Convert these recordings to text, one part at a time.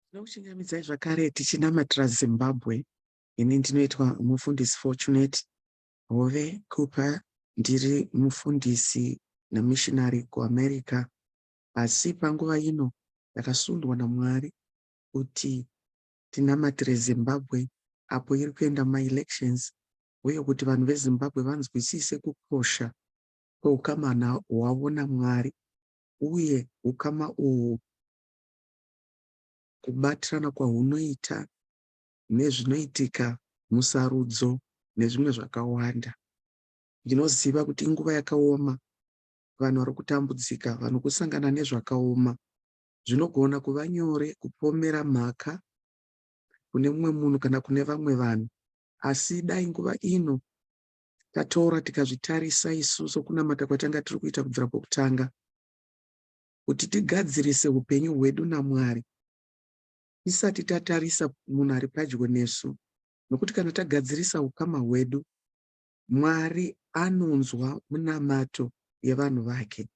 Tinokuchingamidzai zvakare tichinamatira Zimbabwe. Ini ndinoitwa mufundisi Fortunate Hove Kupa. Ndiri mufundisi nemishinari kuAmerica, asi panguva ino ndakasundwa naMwari kuti tinamatire Zimbabwe apo iri kuenda maelections uye kuti vanhu veZimbabwe vanzwisise kukosha kweukama hwavo naMwari uye ukama uhwu, kubatirana kwahunoita nezvinoitika musarudzo nezvimwe zvakawanda. Ndinoziva kuti inguva yakaoma, vanhu vari kutambudzika, vanhu kusangana nezvakaoma. Zvinogona kuva nyore kupomera mhaka kune mumwe munhu kana kune vamwe vanhu, asi dai nguva ino Tatora tikazvitarisa isu sokunamata kwatanga tiri kuita kubvira pokutanga, kuti tigadzirise upenyu hwedu naMwari tisati tatarisa munhu ari padyo nesu, nokuti kana tagadzirisa ukama hwedu, Mwari anonzwa munamato yevanhu vake.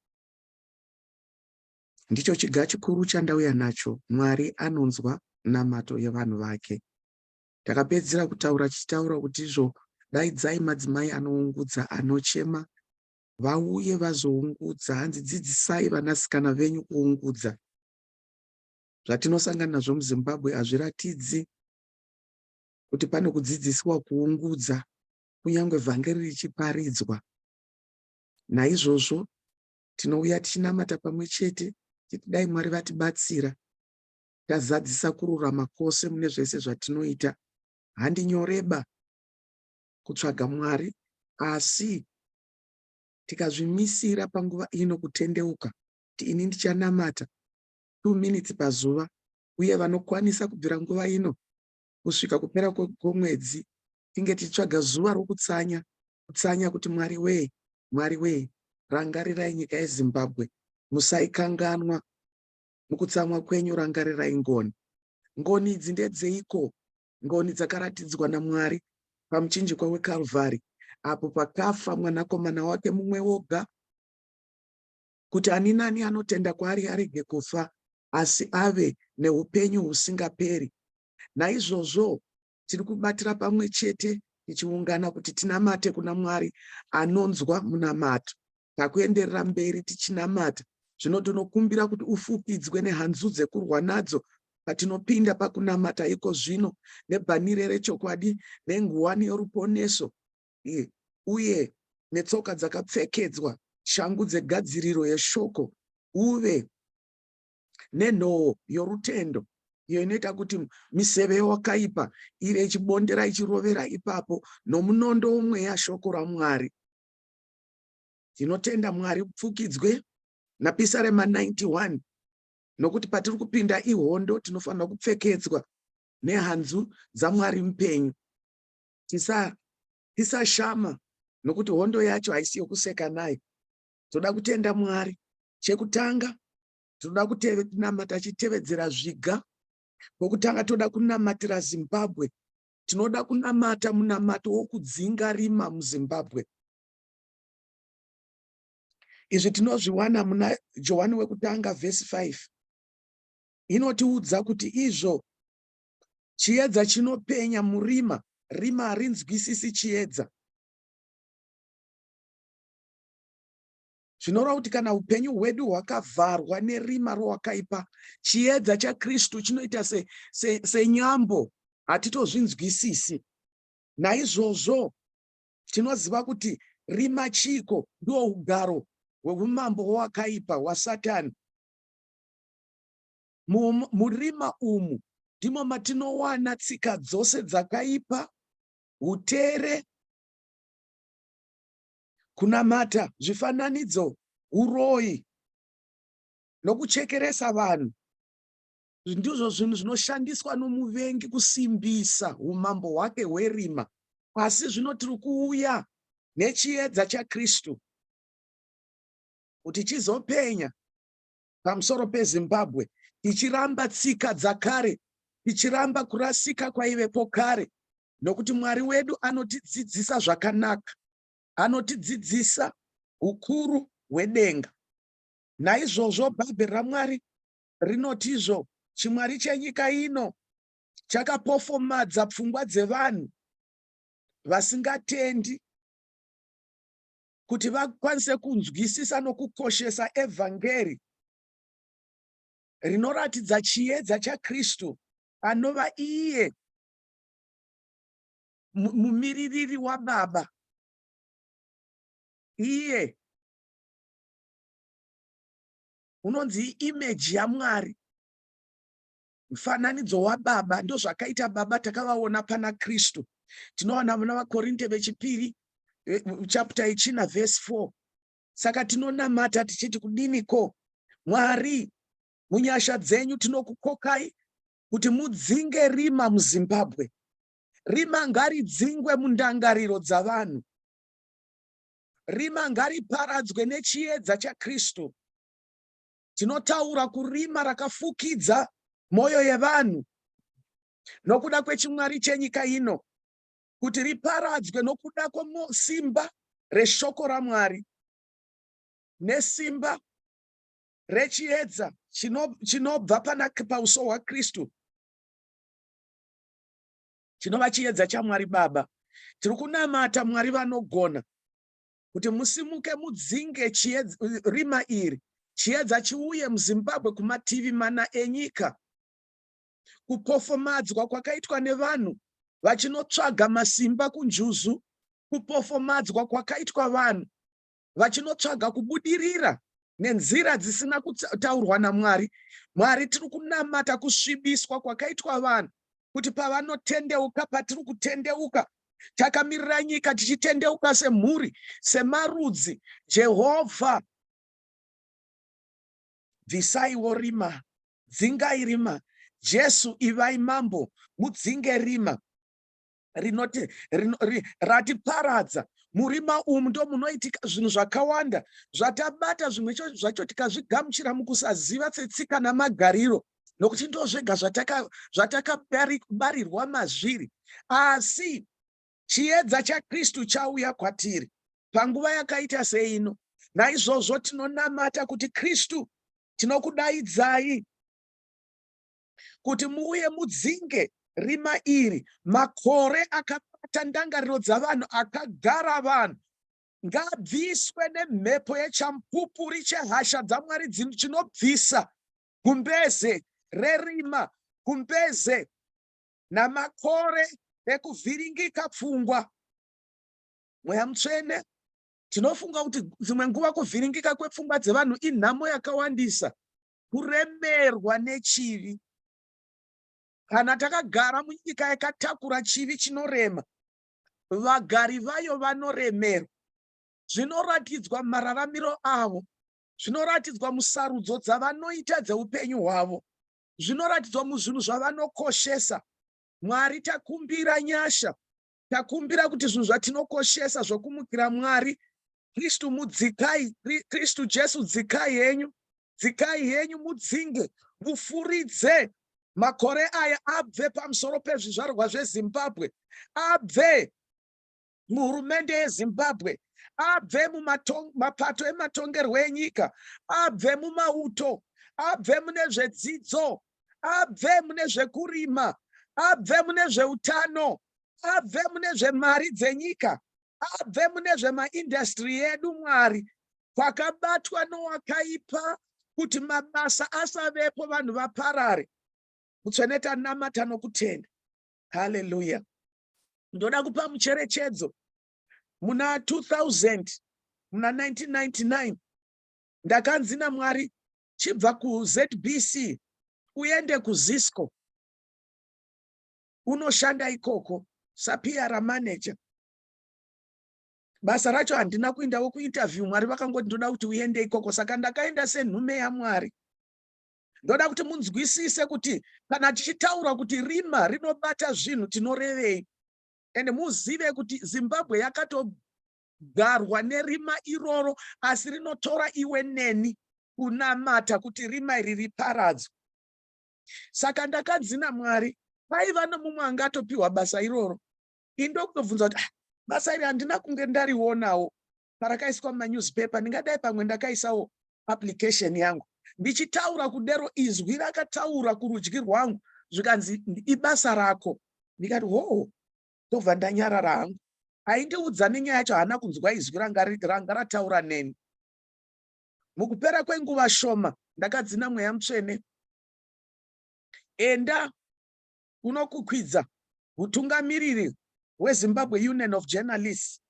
Ndicho chiga chikuru chandauya nacho, Mwari anonzwa namato yevanhu vake. Takapedzisira kutaura tichitaura kuti izvo daidzai madzimai anoungudza anochema vauye vazoungudza hanzi dzidzisai vanasikana venyu kuungudza zvatinosangana nazvo muzimbabwe hazviratidzi kuti pane kudzidzisiwa kuungudza kunyange vhangeri richiparidzwa naizvozvo tinouya tichinamata pamwe chete titi dai mwari vatibatsira Tazadzisa kururama kwose mune zvese zvatinoita. Handinyoreba kutsvaga Mwari, asi tikazvimisira panguva ino kutendeuka kuti ini ndichanamata two minutes pazuva uye vanokwanisa kubvira nguva ino kusvika kupera kwomwedzi tinge tichitsvaga zuva rokutsanya kutsanya kuti mwari wee mwari wee rangarirai nyika yezimbabwe musaikanganwa Mukutsamwa kwenyu rangarirai ngoni. Ngoni idzi ndedzeiko? Ngoni dzakaratidzwa naMwari pamuchinjikwa weKalvari apo pakafa Mwanakomana wake mumwe woga kuti ani nani anotenda kwaari arege kufa asi ave neupenyu husingaperi. Naizvozvo tiri kubatira pamwe chete tichiungana kuti tinamate kuna Mwari anonzwa munamato. Takuenderera mberi tichinamata, zvino tinokumbira kuti ufupidzwe nehanzu dzekurwa nadzo patinopinda pakunamata iko zvino, nebhanire rechokwadi, nenguwani yoruponeso, uye netsoka dzakapfekedzwa, shangu dzegadziriro yeshoko, uve nenhoo yorutendo iyo inoita kuti miseve yowakaipa iri ichibondera ichirovera ipapo nomunondo womweya shoko ramwari tinotenda mwari upfukidzwe napisarema 91 nokuti patiri kupinda ihondo tinofanira kupfekedzwa nehanzu dzamwari mupenyu tisashama tisa nokuti hondo yacho haisi yokuseka nayo toda kutenda mwari chekutanga tinoda kunamata achitevedzera zviga kwokutanga toda kunamatira zimbabwe tinoda kunamata munamato wokudzinga rima muzimbabwe izvi tinozviwana muna johani wekutanga vhesi 5 inotiudza kuti izvo chiedza chinopenya murima rima harinzwisisi chiedza zvinoreva kuti kana upenyu hwedu hwakavharwa nerima rowakaipa chiedza chakristu chinoita senyambo se, se hatitozvinzwisisi naizvozvo tinoziva kuti rima chiiko ndiwo ugaro hweumambo hwowakaipa hwasatani murima umu ndimo matinowana tsika dzose dzakaipa utere kunamata zvifananidzo, huroyi nokuchekeresa vanhu ndizvo zvinhu zvinoshandiswa nomuvengi kusimbisa umambo hwake hwerima. Asi zvino tiri kuuya nechiedza chaKristu kuti chizopenya pamusoro peZimbabwe tichiramba tsika dzakare, tichiramba kurasika kwaivepo kare, nokuti Mwari wedu anotidzidzisa zvakanaka, anotidzidzisa ukuru hwedenga. Naizvozvo Bhaibheri raMwari rinoti izvo chimwari chenyika ino chakapofomadza pfungwa dzevanhu vasingatendi kuti vakwanise kunzwisisa nokukoshesa evhangeri rinoratidza chiedza chaKristu anova iye mumiririri waBaba iye unonzi imeji yaMwari Mufananidzo wababa ndozvakaita baba takavaona pana Kristu. Tinoona muna vaKorinte vechipiri eh, chapter ichina verse 4. Saka tinonamata tichiti kudini ko Mwari munyasha dzenyu tinokukokai kuti mudzinge rima muZimbabwe. Rima ngaridzingwe mundangariro dzavanhu. Rima ngariparadzwe nechiedza chaKristu. tinotaura kurima rakafukidza mwoyo yevanhu nokuda kwechimwari chenyika ino kuti riparadzwe nokuda kwesimba reshoko raMwari nesimba rechiedza chinobva pana pauso hwaKristu chinova chiedza chaMwari Baba. Tiri kunamata Mwari vanogona kuti musimuke mudzinge chiedza, rima iri chiedza chiuye muzimbabwe kumativi mana enyika kupofomadzwa kwakaitwa nevanhu vachinotsvaga masimba kunjuzu kupofomadzwa kwakaitwa vanhu vachinotsvaga kubudirira nenzira dzisina kutaurwa namwari mwari tiri kunamata kusvibiswa kwakaitwa vanhu kuti pavanotendeuka patiri kutendeuka takamirira nyika tichitendeuka semhuri semarudzi jehovha bvisaiwo rima dzingai rima jesu ivai mambo mudzinge rima rinoti rino, ri, ratiparadza murima umu ndo munoitika zvinhu zvakawanda zvatabata zvimwe zvacho tikazvigamuchira mukusaziva tsetsika namagariro nokuti ndozvega zvatakabarirwa zvataka mazviri asi chiedza chakristu chauya kwatiri panguva yakaita seino naizvozvo tinonamata kuti kristu tinokudaidzai kuti muuye mudzinge rima iri makore akabata ndangariro dzavanhu akagara vanhu ngabviswe nemhepo yechamupupuri chehasha dzamwari dzinobvisa gumbeze rerima, gumbeze namakore ekuvhiringika pfungwa. Mweya mutsvene, tinofunga kuti dzimwe nguva kuvhiringika kwepfungwa dzevanhu inhamo yakawandisa, kuremerwa nechivi. Kana takagara munyika yakatakura chivi chinorema, vagari vayo vanoremerwa. Zvinoratidzwa mararamiro avo Zvinoratidzwa musarudzo dzavanoita dzeupenyu hwavo. Zvinoratidzwa muzvinhu zvavanokoshesa. Mwari takumbira nyasha. Takumbira kuti zvinhu zvatinokoshesa zvokumukira Mwari. Kristu mudzikai, Kristu Jesu dzikai henyu. Dzikai henyu mudzinge, mufuridze makore aya abve pamusoro pezvizvarwa zveZimbabwe. Abve muhurumende yezimbabwe abve mumapato ematongerwo enyika abve mumauto abve mune zvedzidzo abve mune zvekurima abve mune zveutano abve mune zvemari dzenyika abve mune zvemaindastri edu mwari kwakabatwa nowakaipa kuti mabasa asavepo vanhu vaparare mutsvene tanamata nokutenda haleluya Ndoda kupa mucherechedzo muna 2000 muna 1999 ndakanzi naMwari chibva kuZBC uende kuZisco unoshanda ikoko saPR manager. Basa racho handina kuindawo kuinterview, Mwari vakangoti ndoda kuti uende ikoko, saka ndakaenda senhume yaMwari. ndoda kuti munzwisise kuti kana tichitaura kuti rima rinobata zvinhu tinorevei and muzive kuti zimbabwe yakatogarwa nerima iroro asi rinotora iwe neni kunamata kuti rima iri riparadzwe saka ndakadzina mwari paiva nomumwe anga atopiwa basa iroro indokutobvunza kuti ah, basa iri handina kunge ndarionawo parakaiswa mumanewspaper ndingadai pamwe ndakaisawo application yangu ndichitaura kudero izwi rakataura kurudyi rwangu zvikanzi ibasa rako ndikati hoo ndobva ndanyarara hangu aindiudza nenyaya yacho haana kunzwa izwi ranga rataura neni mukupera kwenguva shoma ndakadzina mweya mutsvene enda unokukwidza mutungamiriri wezimbabwe union of journalists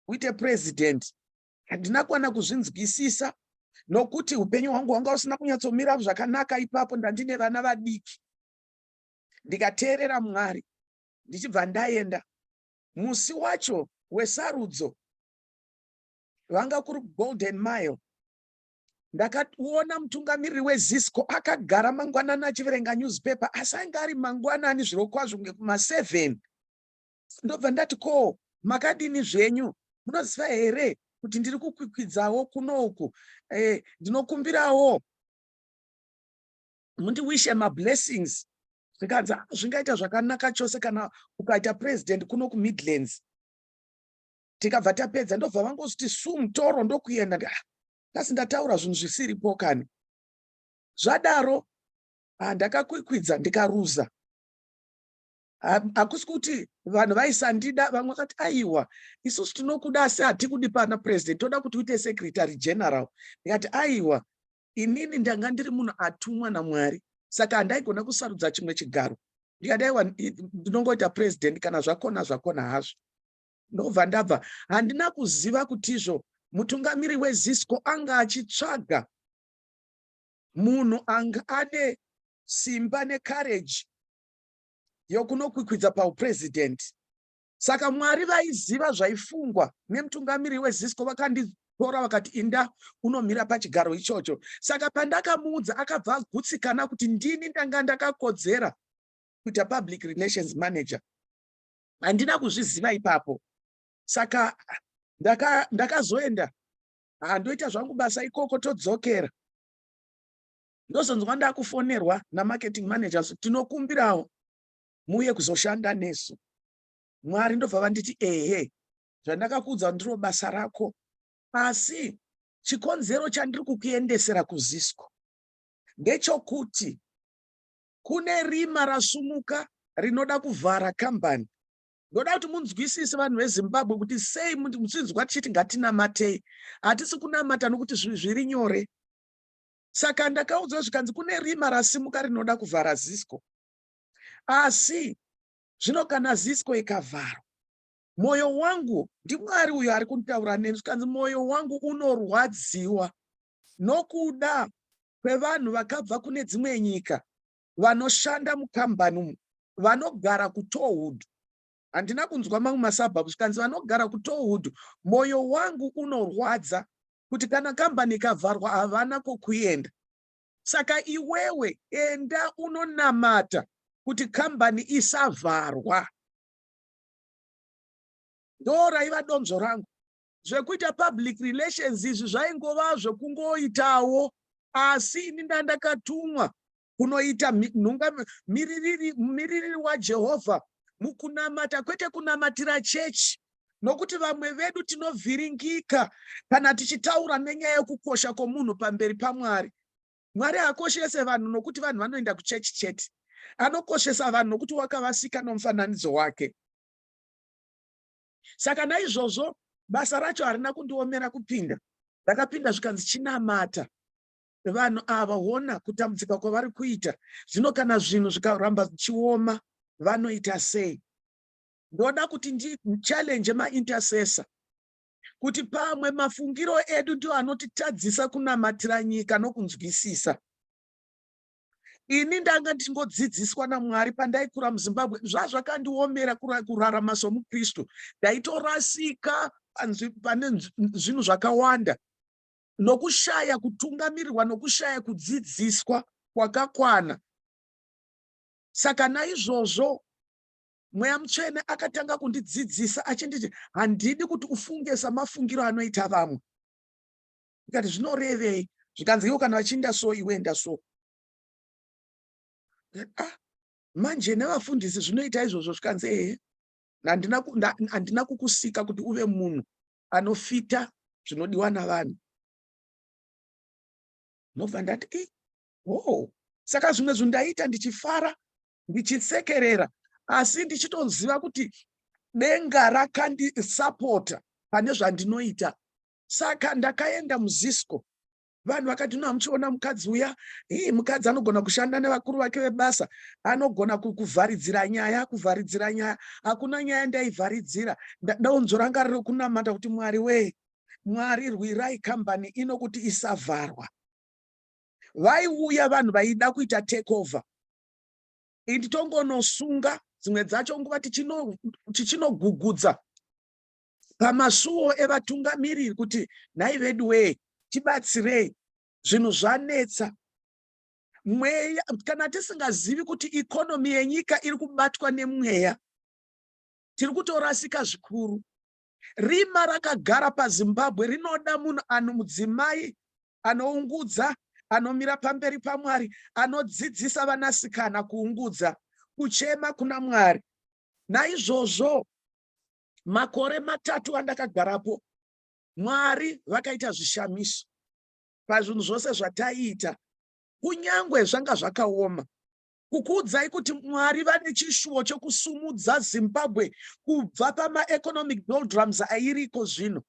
kuita president handina kwana kuzvinzwisisa nokuti upenyu hwangu hwanga usina kunyatsomira zvakanaka ipapo ndandine vana vadiki ndikateerera mwari ndichibva ndaenda musi wacho wesarudzo vanga kuri golden mile ndakaona mutungamiriri wezisco akagara mangwanani achiverenga newspaper asi ainge ari mangwanani zvirokwazvo kunge kuma7 ndobva ndati ko makadini zvenyu munoziva here kuti ndiri kukwikwidzawo kuno uku eh, ndinokumbirawo mundiwishe mablessings zvikanzi ah, zvingaita zvakanaka chose kana ukaita president kuno kumidlands tikabva tapedza ndobva vangozviti su mutoro ndokuenda ndi ah, ndasi ndataura zvinhu zvisiripo kani zvadaro ah, ndakakwikwidza ndikaruza hakusi kuti vanhu vaisandida vamwe vakati aiwa isusu tinokuda asi hatikudi pana president toda kuti uite secretary general ndikati aiwa inini ndanga ndiri munhu atumwa namwari saka handaigona kusarudza chimwe chigaro ndikati aiwa ndinongoita president kana zvakona zvakona hazvo ndobva ndabva handina kuziva kutizvo mutungamiri wezisco anga achitsvaga munhu anga ane simba necourage yokunokwikwidza pauprezidhendi. Saka Mwari vaiziva zvaifungwa nemutungamiri weZisco vakanditora vakati inda unomira pachigaro ichocho. Saka pandakamuudza akabva agutsikana kuti ndini ndanga ndakakodzera kuita public relations manager. Handina kuzviziva ipapo. Saka ndakazoenda ndaka handoita zvangu basa ikoko todzokera. ndozonzwa ndakufonerwa namarketing manager so tinokumbirawo muuye kuzoshanda nesu mwari ndobva vanditi ehe zvandakakuudza ndiro basa rako asi chikonzero chandiri kukuendesera kuzisco ndechokuti kune rima rasumuka rinoda kuvhara kambani ndoda kuti munzwisise vanhu vezimbabwe kuti sei muchinzwa tichiti ngatinamatei hatisi kunamata nokuti zviri nyore saka ndakaudzwa zvikanzi kune rima rasimuka rinoda kuvhara zisco asi zvino kana zisco ikavharwa mwoyo wangu ndimwari uyo ari kutaura neni zvikanzi mwoyo wangu unorwadziwa nokuda kwevanhu vakabva kune dzimwe nyika vanoshanda mukambani umu vanogara kutohood handina kunzwa mamwe masabhabhu zvikanzi vanogara kutowood moyo wangu unorwadza kuti kana kambani ikavharwa havana kokuenda saka iwewe enda unonamata kuti kambani isavharwa ndo raiva donzvo rangu zvekuita public relations izvi zvaingova zvekungoitawo asi ini ndandakatumwa kunoita nhunga miririri miririri waJehovha mukunamata kwete kunamatira chechi nokuti vamwe vedu tinovhiringika kana tichitaura nenyaya yokukosha kwomunhu pamberi pamwari mwari haakoshese vanhu nokuti vanhu vanoenda kuchechi chete anokoshesa vanhu nokuti wakavasika nomufananidzo wake saka naizvozvo basa racho harina kundiomera kupinda ndakapinda zvikanzi chinamata vanhu ava hona kutambudzika kwavari kuita zvino kana zvinhu zvikaramba zvichioma vanoita sei ndoda kuti ndichallenge maintercessor kuti pamwe mafungiro edu ndio anotitadzisa kunamatira nyika nokunzwisisa ini ndanga ndichingodzidziswa namwari pandaikura muzimbabwe zvazvakandiomera kurarama somukristu ndaitorasika pane zvinhu zvakawanda nokushaya kutungamirirwa nokushaya kudzidziswa kwakakwana. Saka naizvozvo Mweya Mutsvene akatanga kundidzidzisa achinditi, handidi kuti ufunge samafungiro anoita vamwe. Ndikati, zvinorevei? Zvikanzi, iwo kana vachiinda so, iwe enda so. Ah, manje nevafundisi zvinoita izvozvo zvikanzi, ehe, handina kukusika kuti uve munhu anofita zvinodiwa navanhu ndobva ndati e eh, hoo oh. saka zvimwe zvinhu ndaiita ndichifara ndichisekerera asi ndichitoziva kuti denga rakandisapota pane zvandinoita saka ndakaenda muzisco vanhu vakati no hamuchiona mukadzi uya hii mukadzi anogona kushanda nevakuru vake vebasa anogona kuvharidzira nyaya kuvharidzira nyaya hakuna nyaya ndaivharidzira ndaunzo ranga riri kunamata kuti mwari wee mwari rwirai kambani ino kuti isavharwa vaiuya vanhu vaida kuita takeover indi tongonosunga dzimwe dzacho nguva tichinogugudza pamasuwo evatungamiriri kuti nhai veduwee tibatsirei zvinhu zvanetsa mweya kana tisingazivi kuti ikonomi yenyika iri kubatwa nemweya tiri kutorasika zvikuru rima rakagara pazimbabwe rinoda munhu ano mudzimai anoungudza anomira pamberi pamwari anodzidzisa vanasikana kuungudza kuchema kuna mwari naizvozvo makore matatu andakagarapo mwari vakaita zvishamiso pazvinhu zvose zvataiita kunyange zvanga zvakaoma kukuudzai kuti mwari vane chishuwo chokusumudza zimbabwe kubva pamaeconomic doldrums airiko zvino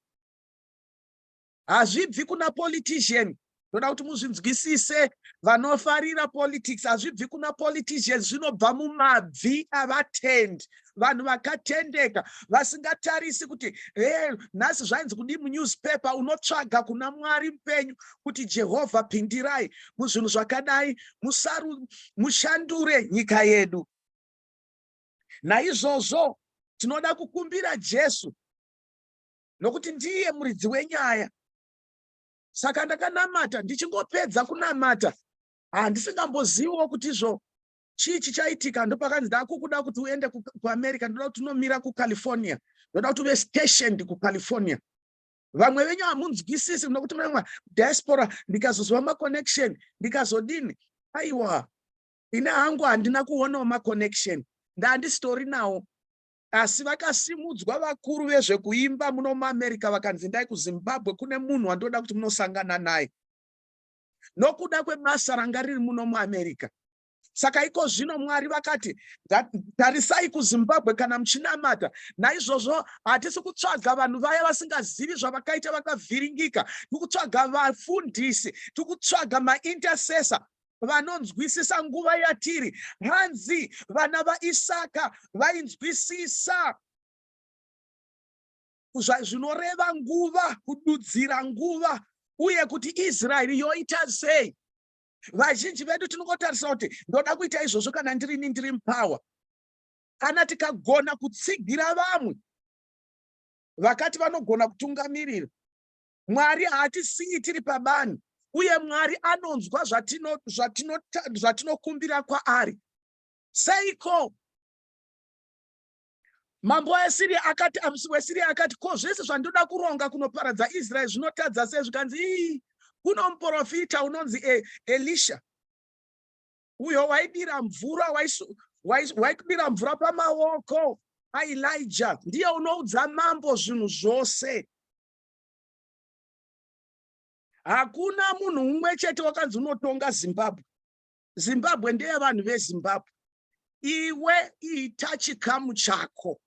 hazvibvi kuna politician ndoda kuti muzvinzwisise vanofarira politics hazvibvi kuna politician zvinobva mumabvi avatendi vanhu vakatendeka vasingatarisi kuti e nhasi zvainzi kudii munewspaper unotsvaga kuna mwari mupenyu kuti jehovha pindirai muzvinhu zvakadai musaru mushandure nyika yedu naizvozvo tinoda kukumbira jesu nokuti ndiye muridzi wenyaya. Saka ndakanamata, ndichingopedza kunamata handisingamboziviwo kuti izvo chii chichaitika. Ndopakanzi ndakukuda kuti uende kuamerica, ndoda kuti unomira kucalifornia, ndoda kuti uve stationed kucalifornia vamwe venyu hamunzwisisi muda kuti mama diaspora ndikazoziva maconnection ndikazodini aiwa ine hangu handina kuonawo maconnection ndandizitori nawo Asi vakasimudzwa vakuru vezvekuimba muno muAmerica vakanzi ndai kuZimbabwe kune munhu wandoda kuti munosangana naye nokuda kwebasa ranga riri muno muAmerica. Saka iko zvino Mwari vakati, tarisai kuZimbabwe kana muchinamata. Naizvozvo hatisi kutsvaga vanhu vaya vasingazivi zvavakaita vakavhiringika. Tiri kutsvaga vafundisi, tiri kutsvaga maintercessor vanonzwisisa nguva yatiri hanzi vana vaisaka vainzwisisa zvinoreva nguva kududzira nguva uye kuti israeri yoita sei vazhinji vedu tinongotarisa kuti ndoda kuita izvozvo kana ndirini ndiri mupower kana tikagona kutsigira vamwe vakati vanogona kutungamirira Mwari haatisiyi tiri pabani, uye Mwari anonzwa zvatinokumbira kwaari. Seiko? Mambo weSiria akati, amusi weSiria akati, ko zvese zvandoda kuronga kunoparadza Israeri zvinotadza sei? Zvikanzi, ii, kuno muprofita unonzi e, Elisha uyo waidira mvura waikudira mvura pamaoko aElija ndiye unoudza mambo zvinhu zvose. hakuna munhu umwe chete wakanzi unotonga zimbabwe zimbabwe ndeyevanhu vezimbabwe iwe ita chikamu chako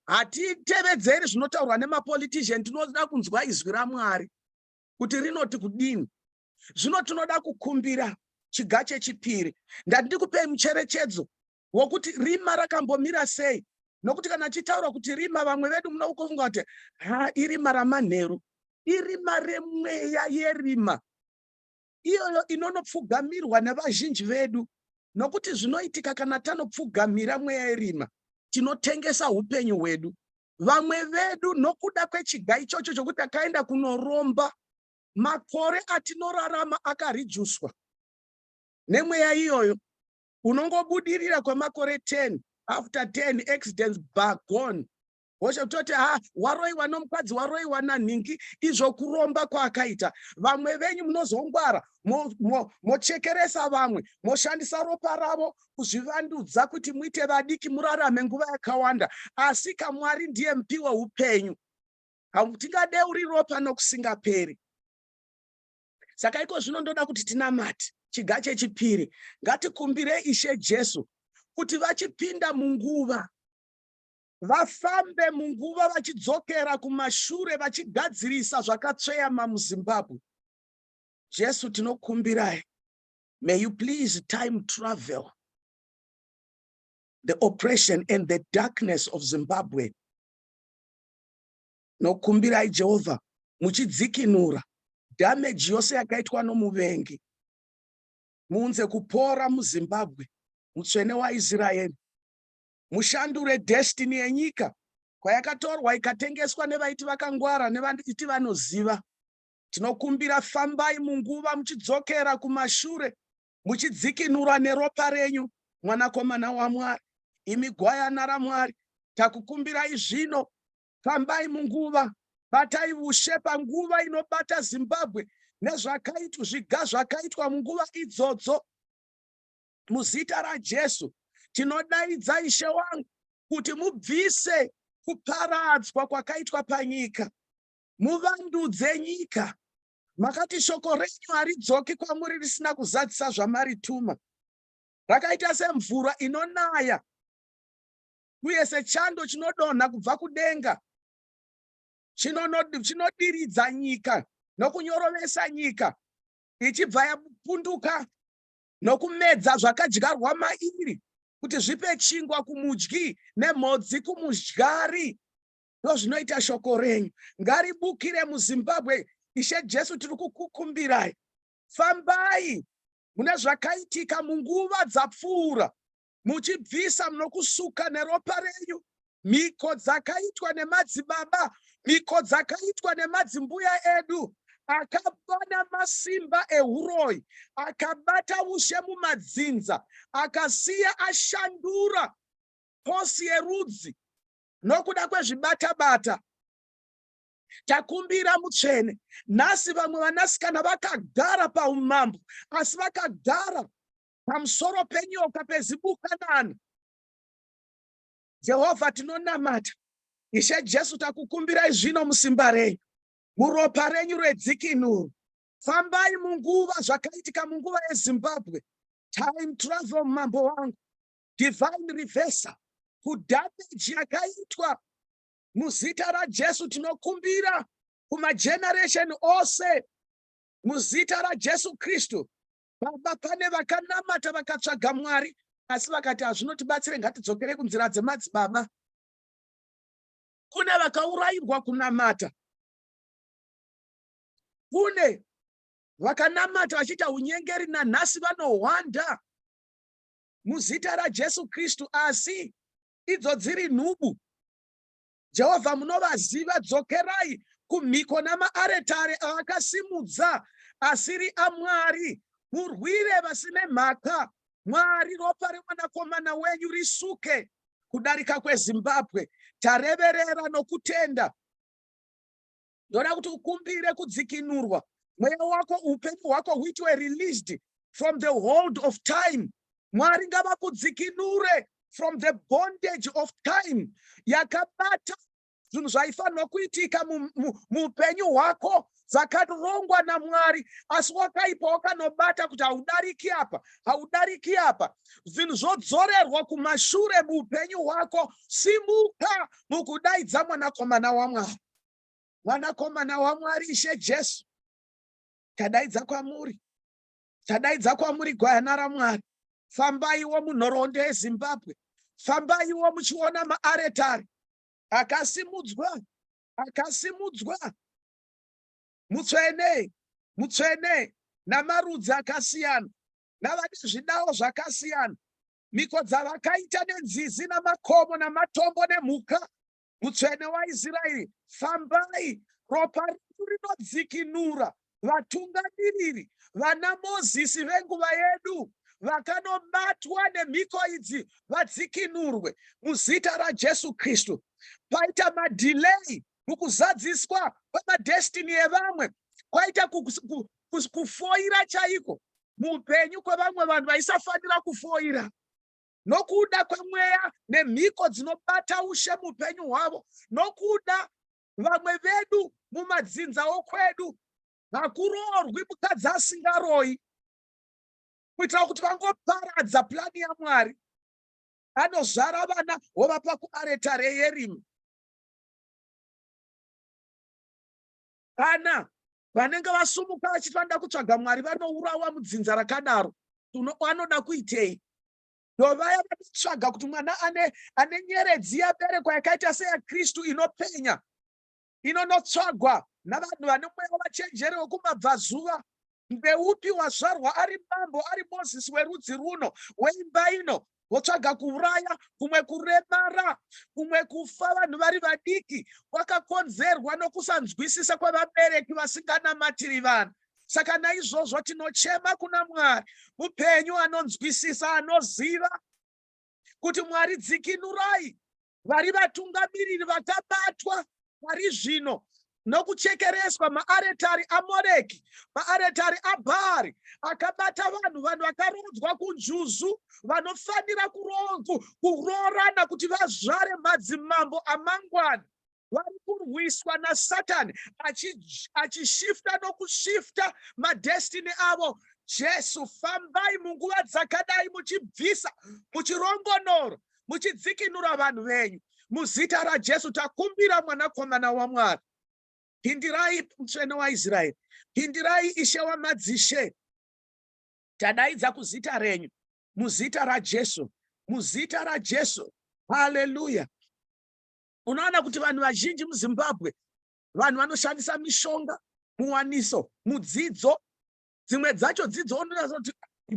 hatitevedzeri zvinotaurwa nemapolitician tinoda kunzwa izwi ramwari kuti rinoti kudini zvino tinoda kukumbira chiga chechipiri ndandikupei mucherechedzo wokuti rima rakambomira sei nokuti kana achitaura kuti rima vamwe vedu muno ukufunga kuti ha irima ramanheru irima remweya yerima iyoyo inonopfugamirwa nevazhinji vedu nokuti zvinoitika kana tanopfugamira mweya yerima tinotengesa upenyu hwedu vamwe vedu nokuda kwechiga ichocho chokuti akaenda kunoromba makore atinorarama akarijuswa nemweya iyoyo unongobudirira kwemakore 10 after 10 accidents bagone hosha kutoti ha waroiwa nomukadzi waroiwa nanhingi izvo kuromba kwaakaita vamwe venyu munozongwara mochekeresa mo, mo vamwe moshandisa ropa ravo kuzvivandudza kuti muite vadiki murarame nguva yakawanda asi kamwari ndiye mupi weupenyu hatingade uri ropa nokusingaperi saka iko zvino ndoda kuti tinamate chiga chechipiri ngatikumbire ishe jesu kuti vachipinda munguva vafambe munguva vachidzokera kumashure vachigadzirisa zvakatsveyama muzimbabwe jesu tinokumbirai may you please time travel the oppression and the darkness of zimbabwe Nokumbirai Jehovha muchidzikinura dhameji yose yakaitwa nomuvengi. Muunze kupora muZimbabwe, mutsvene waIsraeri. Mushandure destiny yenyika kwayakatorwa ikatengeswa nevaiti vakangwara nevaiti vanoziva. Tinokumbira fambai munguva muchidzokera kumashure muchidzikinura neropa renyu mwanakomana waMwari, imi gwayana raMwari. Takukumbirai zvino fambai munguva batai vushe panguva inobata zimbabwe nezvakaitwa zviga zvakaitwa munguva idzodzo muzita rajesu tinodaidza ishe wangu kuti mubvise kuparadzwa kwakaitwa panyika muvandudze nyika makati shoko renyu haridzoki kwamuri risina kuzadzisa zvamarituma rakaita semvura inonaya uye sechando chinodonha kubva kudenga chinodiridza nyika nokunyorovesa nyika ichibva yapunduka nokumedza zvakadyarwa mairi kuti zvipe chingwa kumudyi nemhodzi kumudyari ndozvinoita shoko renyu ngaribukire muzimbabwe ishe jesu tiri kukukumbirai fambai mune zvakaitika munguva dzapfuura muchibvisa munokusuka neropa renyu mhiko dzakaitwa nemadzibaba mhiko dzakaitwa nemadzimbuya edu akabana masimba ehuroyi akabata ushe mumadzinza akasiya ashandura posi yerudzi nokuda kwezvibatabata takumbira mutsvene nhasi vamwe vanasikana vakagara paumambo asi vakagara pamusoro penyoka pezibukanana jehovha tinonamata ishe jesu takukumbirai zvino musimba renyu muropa renyu redzikinuro fambai munguva zvakaitika munguva yezimbabwe time travel mambo wangu divine reversal kudhameji yakaitwa muzita rajesu tinokumbira kumageneration ose muzita rajesu kristu Baba, pane vakanamata vakatsvaga Mwari asi vakati hazvinotibatsire, ngatidzokere kunzira dzemadzibaba. Kune vakaurayirwa kunamata, kune vakanamata vachiita unyengeri, nanhasi vanohwanda muzita raJesu Kristu, asi idzo dziri nhubu. Jehovha munovaziva, dzokerai kumhiko namaaretare aakasimudza asiri aMwari, murwire vasine mhaka. Mwari, ropa remwanakomana wenyu risuke kudarika kweZimbabwe. Tareverera nokutenda. ndoda kuti ukumbire kudzikinurwa mweya wako upenyu hwako huitwe released from the hold of time mwari ngavakudzikinure from the bondage of time yakabata zvinhu zvaifanirwa kuitika muupenyu hwako dzakarongwa namwari asi wakaipa wakanobata kuti haudariki apa haudariki apa zvinhu zvodzorerwa kumashure muupenyu hwako simuka mukudaidza mwanakomana wamwari Mwanakomana waMwari Ishe Jesu, tadaidza kwamuri, tadaidza kwamuri gwayana raMwari, fambaiwo munhoroondo yeZimbabwe, fambaiwo muchiona maaretari akasimudzwa, akasimudzwa mutsvene, mutsvene namarudzi akasiyana, navane zvidawo zvakasiyana, mhiko dzavakaita nenzizi namakomo namatombo nemhuka Mutsvene waIsraeri, fambai! Ropa redu rinodzikinura vatungamiriri, vana Mozisi venguva yedu vakanobatwa nemhiko idzi vadzikinurwe muzita raJesu Kristu. Paita madhilei mukuzadziswa kwemadestini evamwe, kwaita kufoira chaiko muupenyu kwevamwe vanhu vaisafanira kufoira. nokuda kwemweya nemhiko dzinobata ushe muupenyu hwavo nokuda vamwe vedu mumadzinza okwedu hakuroorwi mukadzi asingaroyi kuitira kuti vangoparadza purani yamwari anozvara vana wovapa kuaretare yerimi kana Vanenge vasumuka vachiti vanoda kutsvaga Mwari vanourawa mudzinza rakadaro. Anoda kuitei? Ndovaya vanotsvaga kuti mwana ane, ane nyeredzi yaberekwa yakaita seyaKristu inopenya inonotsvagwa navanhu vane mweya wavachenjeri wekumabvazuva ndeupi wazvarwa ari mambo ari mozisi werudzi runo weimba ino votsvaga kuuraya kumwe kuremara kumwe kufa vanhu vari vadiki kwakakonzerwa nokusanzwisisa kwevabereki vasinganamatiri vanhu saka naizvozvo tinochema kuna mwari mupenyu anonzwisisa anoziva kuti mwari dzikinurai vari vatungamiriri vakabatwa pari zvino nokuchekereswa maaretari amoreki maaretari abhaari akabata vanhu vanhu vakaroodzwa kunjuzu vanofanira kuroorana kuti vazvare madzimambo amangwana vari kurwiswa nasatani achishifta nokushifta madestiny avo jesu fambai munguva dzakadai muchibvisa muchirongonoro muchidzikinura vanhu venyu muzita rajesu takumbira mwanakomana wamwari pindirai mutsvene waisraeri pindirai ishe wamadzishe tadaidza kuzita renyu muzita rajesu muzita rajesu haleluya Unoona kuti vanhu vazhinji muZimbabwe vanhu vanoshandisa mishonga muwaniso mudzidzo dzimwe dzacho dzidzo unoona kuti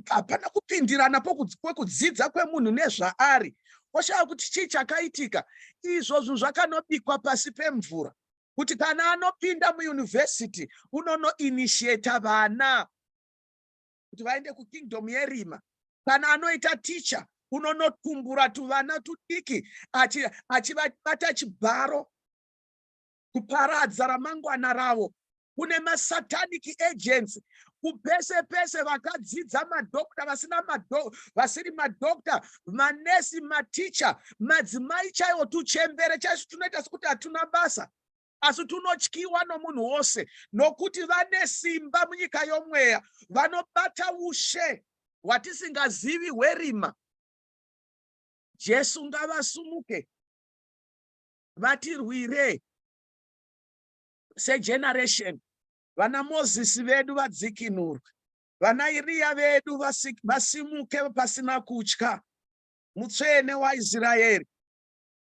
hapana kupindirana kwekudzidza kwemunhu nezvaari oshaya kuti chii chakaitika izvo zvinhu zvakanobikwa pasi pemvura kuti kana anopinda muyunivhesiti unonoinitiata vana kuti vaende kukingdom yerima kana anoita ticha unonotumbura tuvana tudiki achivabata chibharo kuparadza ramangwana ravo kune masatanic agents kupese pese vakadzidza madokta vasina mado vasiri madokta manesi maticha madzimai chaiwo tuchembere chaizvo tunoita sekuti hatuna basa asi tunotyiwa nomunhu wose nokuti vane simba munyika yomweya vanobata ushe hwatisingazivi hwerima jesu ngavasumuke vatirwire segeneration vana mozisi vedu vadzikinurwe vana iriya vedu vasimuke pasina kutya mutsvene waisraeri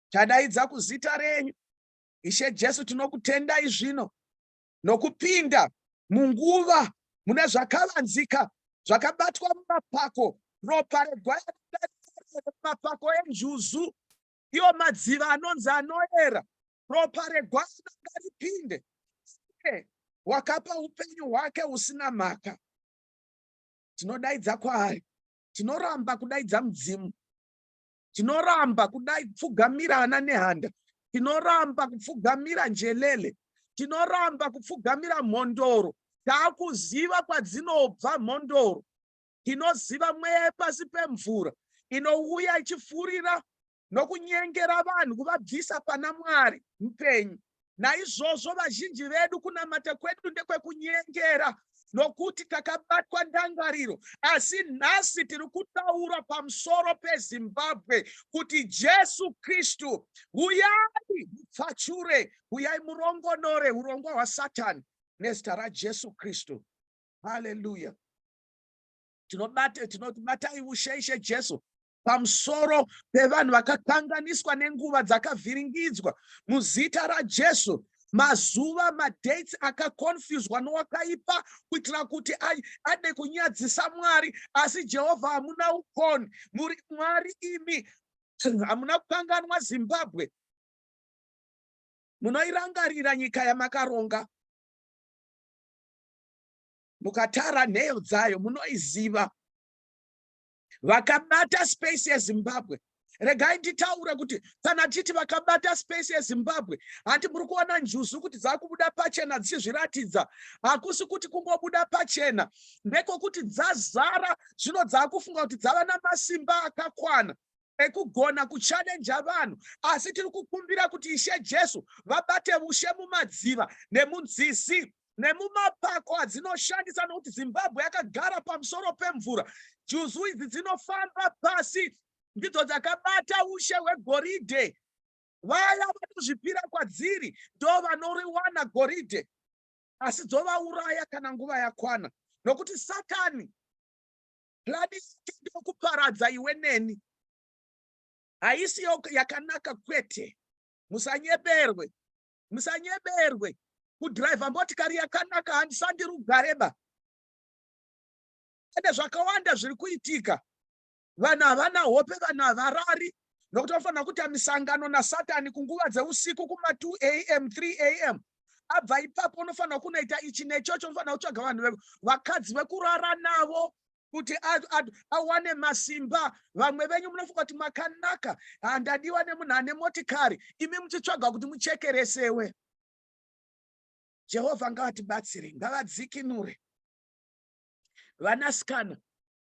tadaidza kuzita renyu Ishe Jesu, tinokutendai zvino nokupinda munguva mune zvakavanzika zvakabatwa mumapako ropa regwayanaapako enjuzu iyo madziva anonzi anoera ropa regwayana ngaripinde wakapa upenyu hwake husina mhaka tinodaidza kwaari tinoramba kudaidza mudzimu tinoramba kudai kupfugamira ana nehanda tinoramba kupfugamira njelele tinoramba kupfugamira mhondoro taakuziva kwadzinobva mhondoro tinoziva mweya yepasi pemvura inouya ichifurira nokunyengera vanhu kuvabvisa pana mwari mupenyu Naizvozvo vazhinji vedu kunamata kwedu ndekwekunyengera nokuti takabatwa ndangariro asi nhasi tiri kutaura pamusoro pezimbabwe kuti jesu kristu huyai mupfachure huyai murongonore urongwa hwasatani nezita rajesu kristu haleluya tinobatai ushe ishe jesu pamusoro pevanhu vakakanganiswa nenguva dzakavhiringidzwa muzita raJesu mazuva madates akaconfuswa nowakaipa kuitira kuti ade kunyadzisa mwari asi jehovha hamuna ukoni muri mwari imi hamuna kukanganwa zimbabwe munoirangarira nyika yamakaronga mukatara nheyo dzayo munoiziva vakabata space yezimbabwe regai nditaure kuti kana titi vakabata space yezimbabwe handi muri kuona njuzu kuti dzakubuda pachena dzichizviratidza hakusi kuti kungobuda pachena ndekokuti dzazara zvino dzaakufunga kuti dzava namasimba akakwana ekugona kuchalenja vanhu asi tiri kukumbira kuti ishe jesu vabate ushe mumadziva nemunzizi nemumapako adzinoshandisa nokuti zimbabwe yakagara pamusoro pemvura juzu idzi dzinofamba pasi ndidzo dzakabata ushe hwegoridhe vaya vanozvipira kwadziri ndo vanoriwana goridhe asi dzovauraya kana nguva yakwana nokuti satani plani yake ndokuparadza iwe neni haisi yakanaka kwete musanyeberwe musanyeberwe kudhiraivha motikari yakanaka handisandi rugareba ende zvakawanda zviri kuitika vanhu havana hope vanhu havarari nokuti vanofanira kuita misangano nasatani kunguva dzeusiku kuma2 am 3 am abva ipapo unofanira kunoita ichi nechocho unofanira kutsvaga vanhu vakadzi vekurara navo kuti awane masimba vamwe venyu munofunga kuti makanaka handadiwa nemunhu ane motikari imi muchitsvaga kuti muchekeresewe jehovha ngavatibatsire ngavadzikinure vanasikana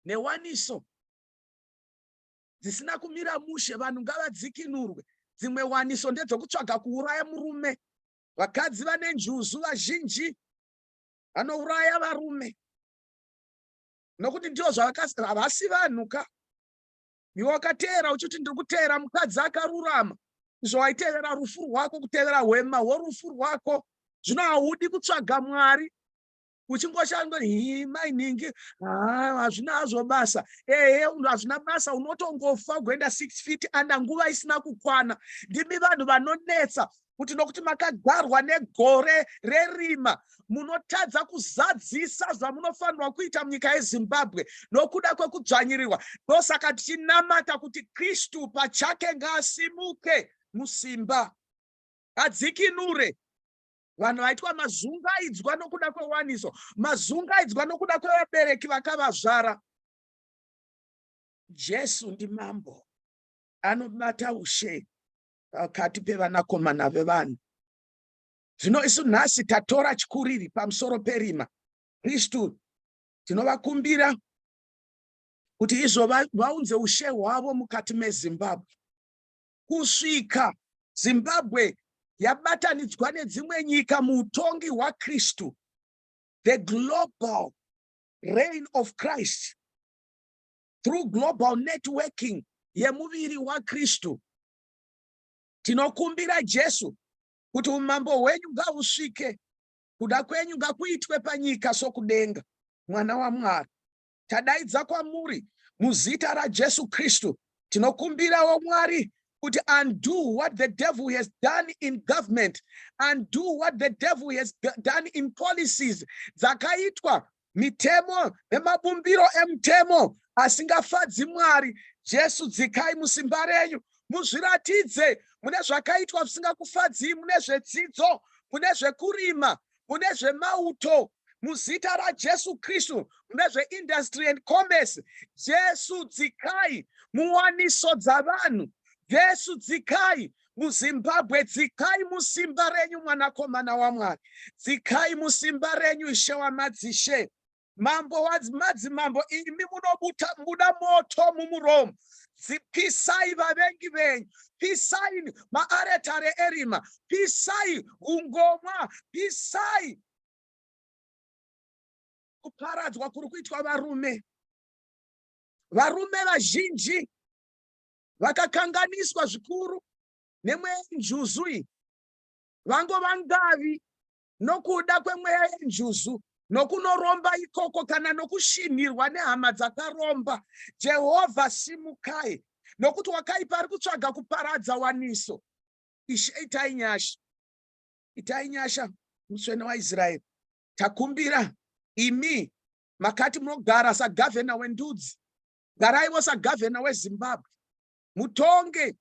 newaniso dzisina kumira mushe vanhu ngavadzikinurwe dzimwe waniso ndedzokutsvaga kuuraya murume vakadzi vane njuzu vazhinji vanouraya varume nokuti ndivo zvavakavasi vanhu ka iwe wakateera uchiti ndiri kuteera mukadzi akarurama izvo waitevera rufu rwako kutevera hwema hworufu rwako zvino haudi kutsvaga mwari uchingoshanda hii mai nhingi hazvina hazvo basa ehe hazvina basa unotongofa ugoenda six feet under nguva isina kukwana ndimi vanhu vanonetsa kuti nokuti makagarwa negore rerima munotadza kuzadzisa zvamunofanirwa kuita munyika yezimbabwe nokuda kwekudzvanyirirwa ndosaka tichinamata kuti kristu pachake ngaasimuke musimba adzikinure vanhu vaitwa mazungaidzwa nokuda kwewaniso mazungaidzwa nokuda kwevabereki vakavazvara jesu ndimambo anobata ushe pakati pevanakomana vevanhu zvino isu nhasi tatora chikuriri pamusoro perima kristu tinovakumbira kuti izvo vaunze ushe hwavo mukati mezimbabwe kusvika Zimbabwe yabatanidzwa nedzimwe nyika muutongi hwaKristu, the global reign of Christ through global networking yemuviri waKristu. Tinokumbira Jesu kuti umambo hwenyu ngahusvike, kuda kwenyu ngakuitwe panyika sokudenga, mwana waMwari. tadaidza kwamuri muzita raJesu Kristu. Tinokumbirawo Mwari kuti undo what the devil has done in government, undo what the devil has done in policies dzakaitwa mitemo nemabumbiro emutemo asingafadzi Mwari. Jesu dzikai musimba renyu muzviratidze mune zvakaitwa zvisingakufadzii mune zvedzidzo mune zvekurima mune zvemauto muzita rajesu kristu mune zveindustry and commerce jesu dzikai muwaniso dzavanhu jesu dzikai muzimbabwe dzikai musimba renyu mwanakomana wamwari dzikai musimba renyu ishe wamadzishe Mambo wadzimadzimambo imi munobuda moto mumuromo pisai vavengi venyu pisai maaretare erima pisai ungomwa pisai kuparadzwa kuri kuitwa varume varume vazhinji vakakanganiswa zvikuru nemwenjuzu iyi vangova ngavi nokuda kwemweya yenjuzu nokunoromba ikoko kana nokushinhirwa nehama dzakaromba jehovha simukai nokuti wakaipa ari kutsvaga kuparadza waniso ishe itai nyasha itai nyasha mutsvene waisraeri takumbira imi makati munogara sagavhena wendudzi garaivo sagavhena wezimbabwe mutonge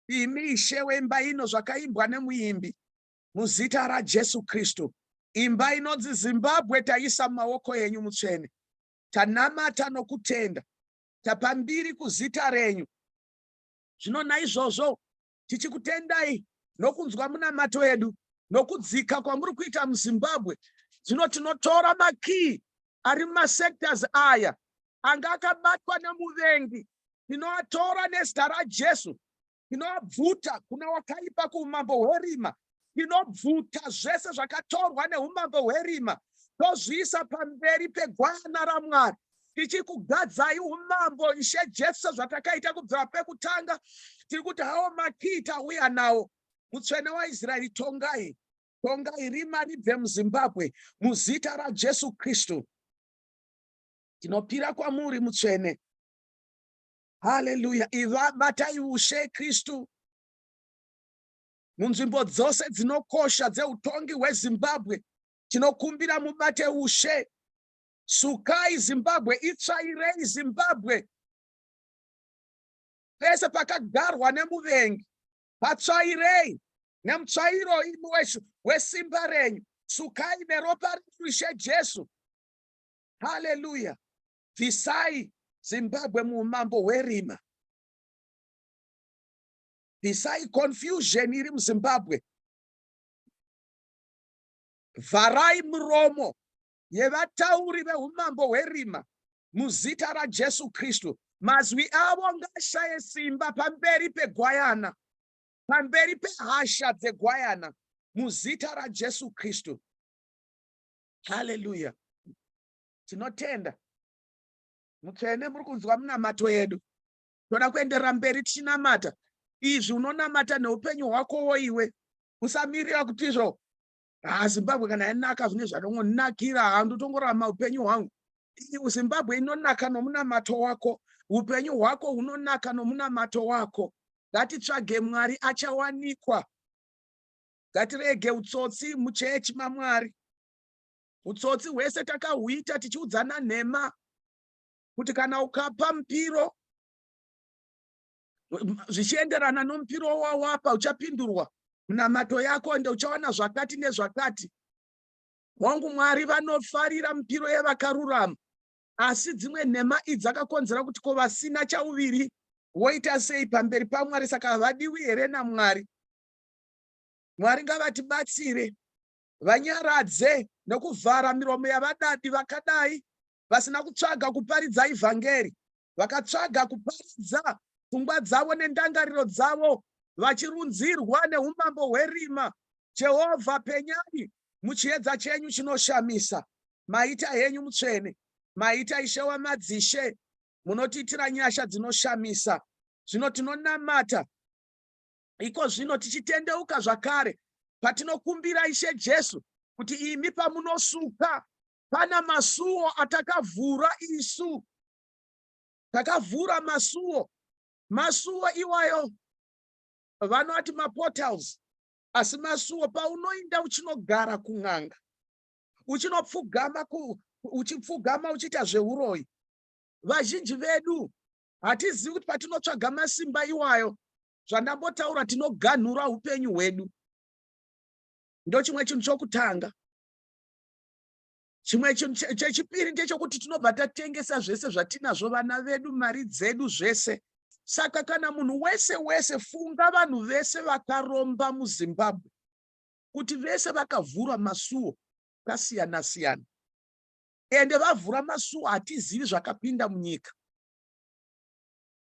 imi ishe wemba ino zvakaimbwa nemuimbi muzita raJesu Kristu. Imba inonzi Zimbabwe taisa mumaoko enyu mutsvene. Tanamata nokutenda. Tapa mbiri kuzita renyu. Zvino naizvozvo tichikutendai nokunzwa munamato edu nokudzika kwamuri kuita muzimbabwe zvino tinotora makiyi ari mumasectors aya anga akabatwa nemuvengi tinoatora nezita rajesu Tinobvuta kuna wakaipa kuumambo hwerima. Tinobvuta zvese zvakatorwa neumambo hwerima tozviisa pamberi pegwana raMwari tichikugadzai umambo Ishe Jesu sezvatakaita kubvira pekutanga. Tiri kuti hawo makii tauya nawo. Mutsvene waIsraeri tongai, tongai rima ribve muZimbabwe muzita raJesu Kristu. Tinopira kwamuri mutsvene. haleluya iva batai ushe kristu munzvimbo dzose dzinokosha dzeutongi hwezimbabwe tinokumbira mubate ushe sukai zimbabwe itsvairei zimbabwe pese pakagarwa nemuvengi patsvairei nemutsvairo imi weshu wesimba renyu sukai neropa rishe jesu haleluya Bvisai Zimbabwe muhumambo hwerima. Bvisai confusion iri muZimbabwe. Vharai muromo yevatauri vehumambo hwerima muzita raJesu Kristu. Mazwi avo ngashaye simba pamberi pegwayana, pamberi pehasha dzegwayana muzita raJesu Kristu. Haleluya. Tinotenda mutsvene muri kunzwa munamato yedu toda kuenderera mberi tichinamata izvi unonamata neupenyu hwako woiwe usamirira kuti izvo ha zimbabwe kana yanaka zvine zvatongonakira ha ndotongorama upenyu hwangu iu zimbabwe inonaka nomunamato wako upenyu hwako hunonaka nomunamato wako ngatitsvage mwari achawanikwa ngatirege utsotsi muchechi mamwari Utsotsi hwese takahuita tichiudzana nhema kuti kana ukapa mupiro zvichienderana nomupiro wawapa uchapindurwa munamato yako ende uchawana zvakati nezvakati. Hongu, Mwari vanofarira mipiro yevakarurama, asi dzimwe nhema idzi dzakakonzera kuti ko vasina chauviri voita sei pamberi paMwari? Saka havadiwi here naMwari? Mwari ngavatibatsire vanyaradze nokuvhara miromo yavadadi vakadai vasina kutsvaga kuparidza ivhangeri vakatsvaga kuparidza pfungwa dzavo nendangariro dzavo vachirunzirwa neumambo hwerima jehovha penyai muchiedza chenyu chinoshamisa maita henyu mutsvene maita ishe wamadzishe munotiitira nyasha dzinoshamisa zvino tinonamata Iko zvino tichitendeuka zvakare patinokumbira Ishe Jesu kuti imi pamunosuka pana masuwo atakavhura isu takavhura masuwo masuwo iwayo vanoti maportals asi masuwo paunoinda uchinogara kun'anga uchinopfugama uchipfugama uchiita zveuroyi vazhinji vedu hatizivi kuti patinotsvaga masimba iwayo zvandambotaura tinoganhura upenyu hwedu ndochimwe chinhu chokutanga chimwe chinhu chechipiri ndechokuti tinobva tatengesa zvese zvatinazvo vana vedu mari dzedu zvese saka kana munhu wese wese funga vanhu vese vakaromba muzimbabwe kuti vese vakavhura masuo akasiyana siyana ende vavhura masuo hatizivi zvakapinda munyika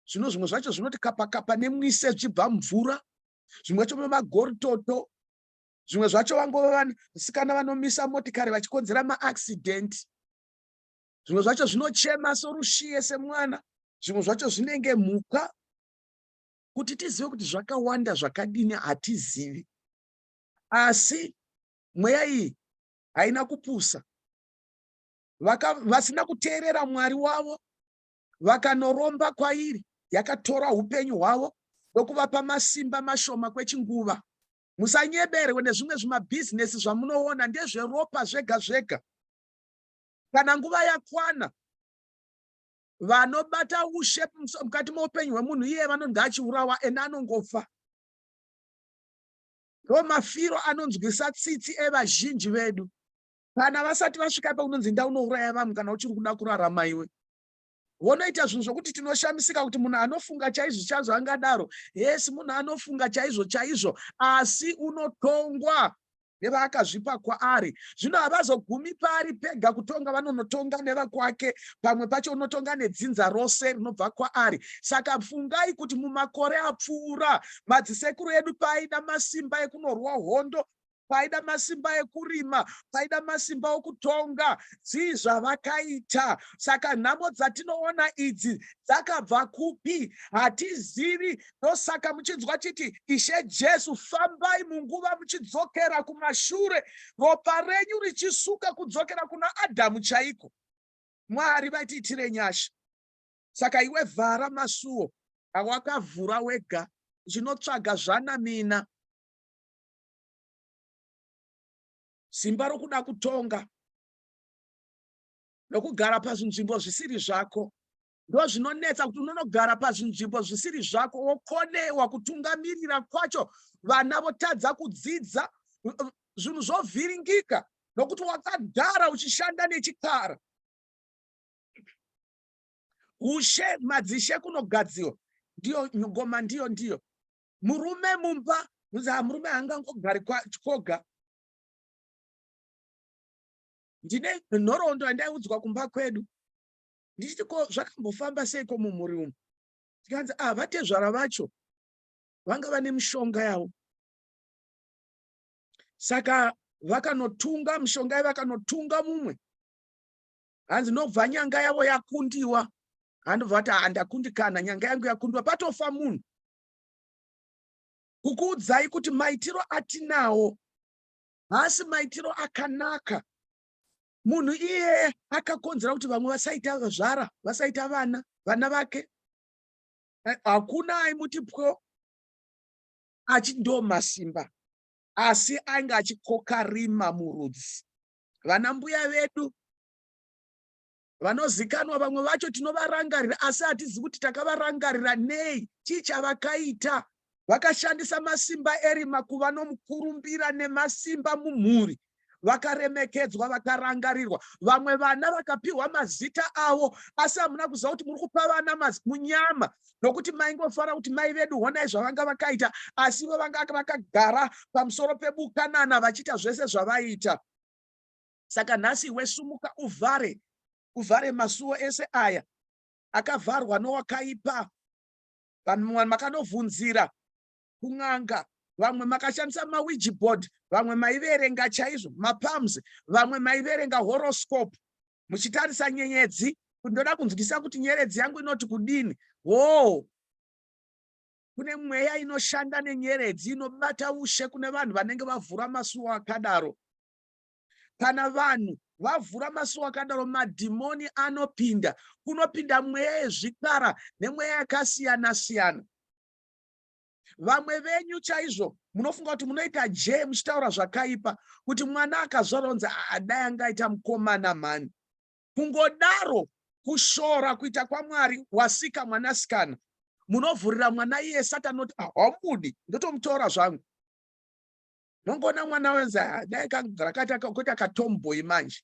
zvino zvimwe zvacho zvinoti kapakapa nemwise zvibva mvura zvimwe zvacho vemagoritoto zvimwe zvacho vangova vanasikana vanomisa motikari vachikonzera maaccident zvimwe zvacho zvinochema sorushiye semwana zvimwe zvacho zvinenge mhuka kuti tizive kuti zvakawanda zvakadini hatizivi asi mweya iyi haina kupusa Vaka, vasina kuteerera mwari wavo vakanoromba kwairi yakatora upenyu hwavo ndokuvapa masimba mashoma kwechinguva. Musanyeberwe nezvimwe zvimabhizinesi zvamunoona ndezveropa zvega zvega. Kana nguva yakwana, vanobata ushe mukati meupenyu hwemunhu iye vanonzi achiurawa ene anongofa. Ndo mafiro anonzwisa tsitsi evazhinji vedu. kana vasati vasvika ipa unonzi inda unouraya vamwe kana uchiri kuda kurarama iwe vonoita zvinhu zvokuti tinoshamisika kuti munhu anofunga chaizvo chaizvo angadaro hesi munhu anofunga chaizvo chaizvo asi unotongwa nevaakazvipa kwaari zvino havazogumi paari pega kutonga vanonotonga nevakwake pamwe pacho unotonga nedzinza rose rinobva kwaari saka fungai kuti mumakore apfuura madzisekuru edu paaida masimba ekunorwa hondo paida masimba ekurima paida masimba okutonga dzii zvavakaita saka nhamo dzatinoona idzi dzakabva kupi hatizivi ndosaka muchinzwa chiti ishe jesu fambai munguva muchidzokera kumashure ropa renyu richisuka kudzokera kuna adhamu chaiko mwari vaitiitire nyasha saka iwe vhara masuo awakavhura wega zvinotsvaga zvanamina simba rokuda kutonga nokugara pazvinzvimbo zvisiri zvako ndozvinonetsa kuti unonogara pazvinzvimbo zvisiri zvako wokonewa kutungamirira kwacho vana votadza kudzidza zvinhu zvovhiringika nokuti wakagara uchishanda nechikara ushe madzishe kunogadziwa ndiyo ngoma ndiyo ndiyo murume mumba kunzi ah, murume haangangogari koga ndine nhoroondo yandaiudzwa kumba kwedu ndichiti ko zvakambofamba seiko mumhuri umu tikanzi ah vatezvara vacho vanga vane mishonga yavo saka vakanotunga mishonga yavo vakanotunga mumwe hanzi nobva nyanga yavo yakundiwa handobva kuti handakundikana nyanga yangu yakundiwa patofa munhu kukuudzai kuti maitiro atinawo haasi maitiro akanaka munhu iye akakonzera kuti vamwe vasaita zvara vasaita vana vana vake eh, hakuna aimuti pwo achindomasimba asi ainge achikoka rima murudzi vana mbuya vedu Vanozikanwa vamwe vacho tinovarangarira asi hatizi kuti takavarangarira nei chii chavakaita. Vakashandisa masimba erima kuva nomukurumbira nemasimba mumhuri vakaremekedzwa vakarangarirwa vamwe vana vakapiwa mazita avo asi hamuna kuziva kuti muri kupa vana munyama nokuti maingofanira kuti mai vedu honai zvavanga vakaita asi ivo vanga vakagara pamusoro pebukanana vachiita zvese zvavaita Saka nhasi iwe sumuka uvhare, uvhare masuwo ese aya akavharwa nowakaipa. Vanhu makanovhunzira kun'anga, vamwe makashandisa mawiji board, vamwe maiverenga chaizvo mapalms, vamwe maiverenga horoscope muchitarisa nyenyedzi kuti ndoda kunzwisisa kuti nyeredzi yangu inoti kudini. Hoo, kune mweya inoshanda nenyeredzi inobata ushe kune vanhu vanenge vavhura masuwo akadaro. kana vanhu vavhura maso akadaro madhimoni anopinda kunopinda mweya yezvikara nemweya yakasiyana siyana vamwe venyu chaizvo munofunga kuti munoita je muchitaura zvakaipa kuti mwana akazvarwa unzi adai anga aita mukomana mhani kungodaro kushora kuita kwamwari wasika mwanasikana munovhurira mwana iye sati anoti ah, haumudi ndotomutora zvangu mongoona mwana wenzi ah, dai rakati kuita katomboyi manje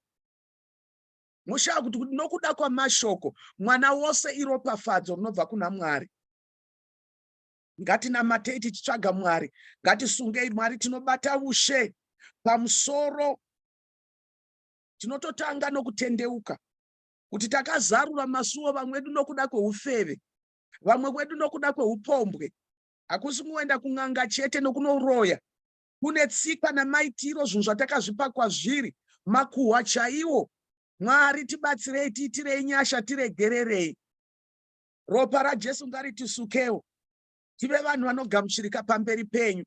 moshaya kuti kuti nokuda kwamashoko mwana wose iropafadzo rinobva kuna mwari ngatinamatei tichitsvaga mwari ngatisungei mwari tinobata ushe pamusoro tinototanga nokutendeuka kuti takazarura masuwo vamwe vedu nokuda kweufeve vamwe wedu nokuda kweupombwe hakusi kungoenda kun'anga chete nokunoroya kune tsikwa namaitiro zvinhu zvatakazvipa kwazviri makuhwa chaiwo mwari tibatsirei tiitirei nyasha tiregererei ropa rajesu ngaritisukewo tive vanhu vanogamuchirika pamberi penyu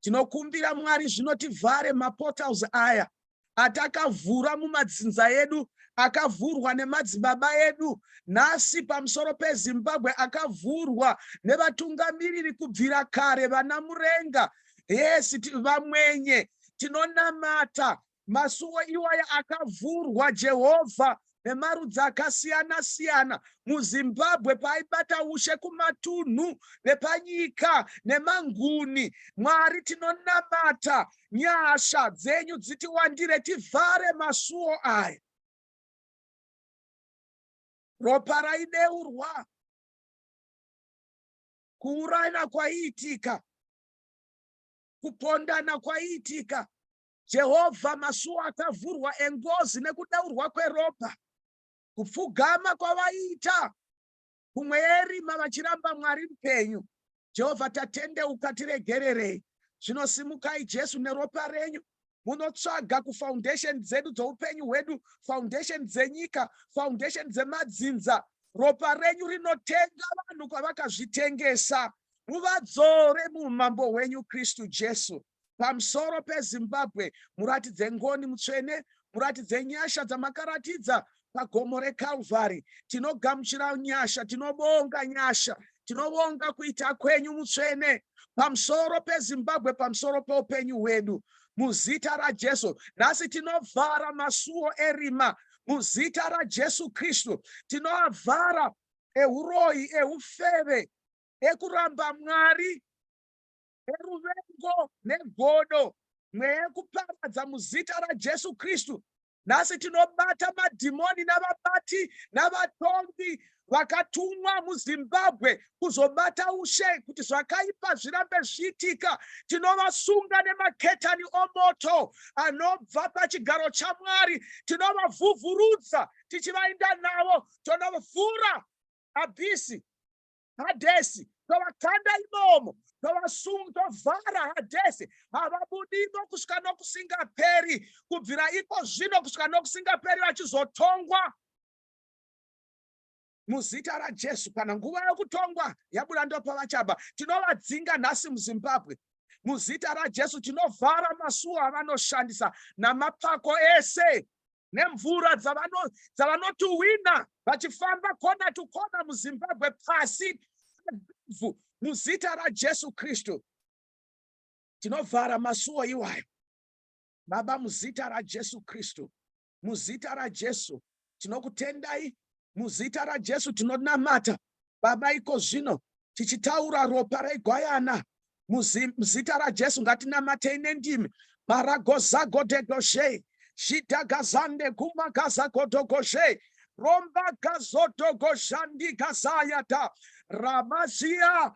Tinokumbira Mwari zvino tivhare maportals aya atakavhura mumadzinza edu akavhurwa nemadzibaba edu nhasi pamusoro pezimbabwe akavhurwa nevatungamiriri kubvira kare vana murenga yes vamwenye tinonamata Masuwo iwaya akavhurwa Jehovha nemarudzi akasiyana siyana muZimbabwe paaibata ushe kumatunhu nepanyika nemanguni. Mwari tinonamata nyasha dzenyu dzitiwandire tivhare masuwo aya. Ropa raideurwa kuurayana kwaiitika kupondana kwaiitika Jehovha, masuo akavhurwa engozi nekudeurwa kweropa, kupfugama kwavaiita kumwe yerima vachiramba Mwari mupenyu. Jehovha, tatendeuka, tiregererei. Zvino simukai, Jesu, neropa renyu munotsvaga kufoundation dzedu dzoupenyu hwedu, foundation dzenyika, foundation dzemadzinza. Ropa renyu rinotenga vanhu kwavakazvitengesa. Muvadzore muumambo hwenyu, Kristu Jesu. Pamsoro peZimbabwe muratidze ngoni mutsvene, muratidze nyasha dzamakaratidza pagomo reKalvari. Tinogamuchira nyasha, tinobonga nyasha, tinobonga kuita kwenyu mutsvene pamsoro peZimbabwe, pamsoro peupenyu hwedu muzita raJesu. Nhasi tinovhara masuwo erima muzita raJesu Kristu, tinoavhara ehuroyi, eufeve, ekuramba Mwari neruvengo negodo mweya yekuparadza muzita rajesu kristu nhasi tinobata madhimoni navabati navatongi vakatumwa muzimbabwe kuzobata ushe kuti zvakaipa zvirambe zviitika tinovasunga nemaketani omoto anobva pachigaro chamwari tinovavhuvhurudza tichivainda navo tonovhura abhisi hadhesi tovakanda imomo tovasunga tovhara hadhesi havabudimo kusvika nokusingaperi kubvira iko zvino kusvika nokusingaperi vachizotongwa muzita rajesu kana nguva yokutongwa yabuda ndopavachaba tinovadzinga nhasi muzimbabwe muzita rajesu tinovhara masuo avanoshandisa namapako ese nemvura dzavano dzavanotuhwina vachifamba kona to kona muzimbabwe pasi pevhu muzita rajesu kristu tinovhara masuwo iwayo baba muzita rajesu kristu muzita rajesu tinokutendai muzita rajesu tinonamata Baba, iko zvino tichitaura ropa regwayana muzita raJesu ngatinamatei nendimi baragozagodegoshei zvidhagazande gumagazagodogoshei rombagazodogoxandigazayata ramazia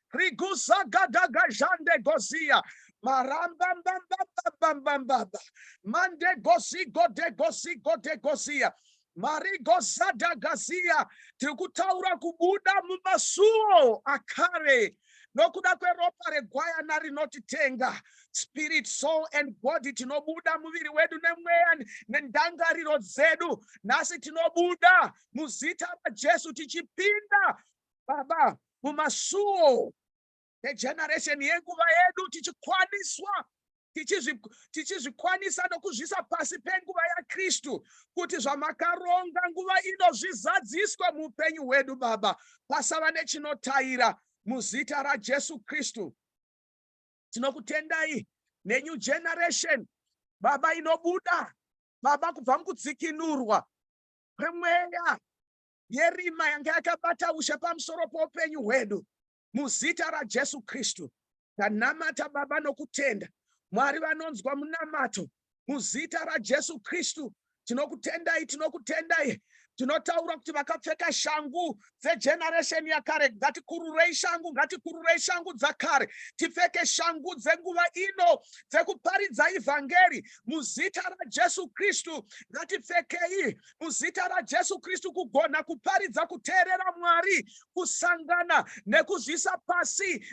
riguzagagagazhande goziya marambambambambambambambamba mandegozigodegozigodegoziya marigozadagaziya tiri kutaura kubuda mumasuo akare nokuda kweropa regwayana rinotitenga spirit soul and body tinobuda muviri wedu nemweya nendangariro dzedu nhasi tinobuda muzita rajesu tichipinda Baba, mumasuwo egeneration yenguva yedu tichikwaniswa tichizvikwanisa nokuzvisa pasi penguva yaKristu kuti zvamakaronga nguva ino zvizadziswe muupenyu hwedu Baba pasava nechinotaira muzita raJesu Kristu tinokutendai nenew generation Baba inobuda Baba kubva mukudzikinurwa kwemweya yerima yanga yakabata ushe pamusoro poupenyu hwedu muzita rajesu kristu tanamata baba nokutenda mwari vanonzwa munamato muzita rajesu kristu tinokutendai tinokutendai tinotaura kuti vakapfeka shangu dzegeneresheni yakare ngatikururei shangu ngatikururei shangu dzakare tipfeke shangu dzenguva ino dzekuparidza ivhangeri muzita rajesu kristu ngatifekei muzita raJesu Kristu kugona kuparidza kuteerera Mwari, kusangana nekuzvisa pasi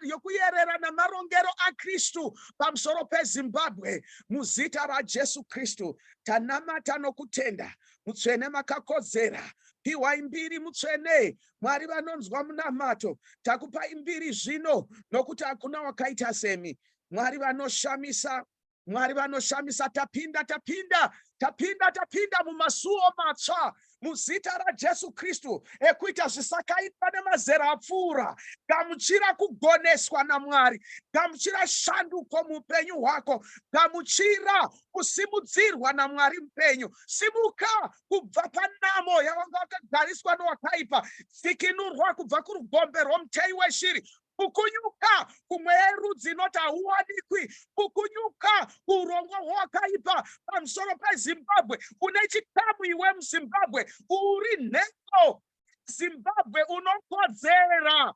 yokuyerera namarongero aKristu pamusoro peZimbabwe. Muzita raJesu Kristu tanamata nokutenda. Mutsvene makakodzera piwai mbiri mutsvene mwari vanonzwa munamato takupai mbiri zvino nokuti hakuna wakaita semi mwari vanoshamisa Mwari vanoshamisa tapinda tapinda tapinda tapinda mumasuwo matsva muzita raJesu Kristu ekuita zvisakaitwa nemazera apfuura. Gamuchira kugoneswa naMwari, gamuchira shanduko muupenyu hwako, gamuchira kusimudzirwa naMwari mupenyu. Simuka kubva panamo yawanga wakagariswa nowakaipa, dzikinurwa kubva kurugombe rwomuteyi weshiri, kukunyuka kumweya yerudzi inoti hauwanikwi kukunyuka kuurongwa hwewakaipa pamusoro pezimbabwe une chikamu iwe muzimbabwe uri nhengo zimbabwe unokodzera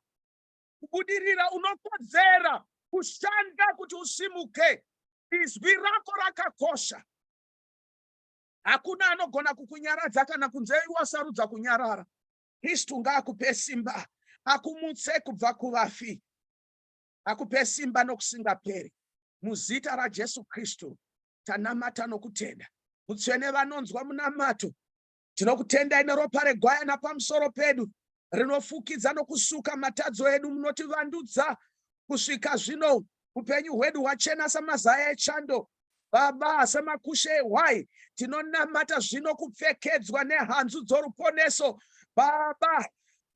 kubudirira unokodzera kushanda kuti usimuke izwi rako rakakosha hakuna anogona kukunyaradza kana kunze wasarudza kunyarara Kristu ngaakupe simba, akumutse kubva kuvafi, akupe simba nokusingaperi. Muzita raJesu Kristu tanamata nokutenda. Mutsvene vanonzwa munamato, tinokutendai neropa regwayana pamusoro pedu rinofukidza nokusuka matadzo edu. Munotivandudza kusvika zvino, upenyu hwedu hwachena samazaya echando, Baba semakushe why tinonamata zvino kupfekedzwa nehanzu dzoruponeso Baba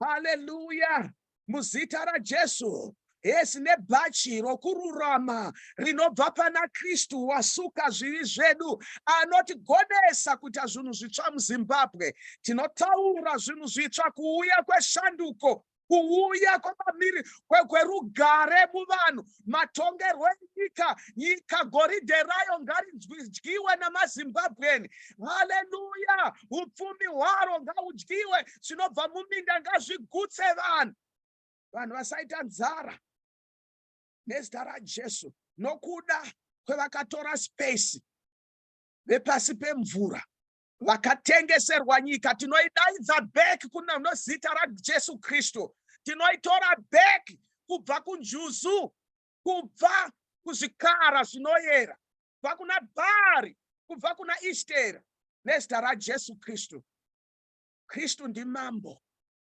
haleluya muzita raJesu hesi nebhachi rokururama rinobva pana Kristu wasuka zvivi zvedu anotigonesa kuita zvinhu zvitsva muZimbabwe tinotaura zvinhu zvitsva kuuya kweshanduko kuuya kwamamiri kwerugare muvanhu matongerwo enyika nyika goridhe rayo ngaridyiwe namazimbabwen haleluya upfumi hwaro ngaudyiwe zvinobva muminda ngazvigutse vanhu vanhu vasaita nzara nezita rajesu nokuda kwevakatora space vepasi pemvura vakatengeserwa nyika tinoidaidza back kunozita rajesu kristu tinoitora back kubva kunjuzu kubva kuzvikara zvinoyera kubva kuna bhaari kubva kuna ishtera nezita rajesu kristu kristu ndimambo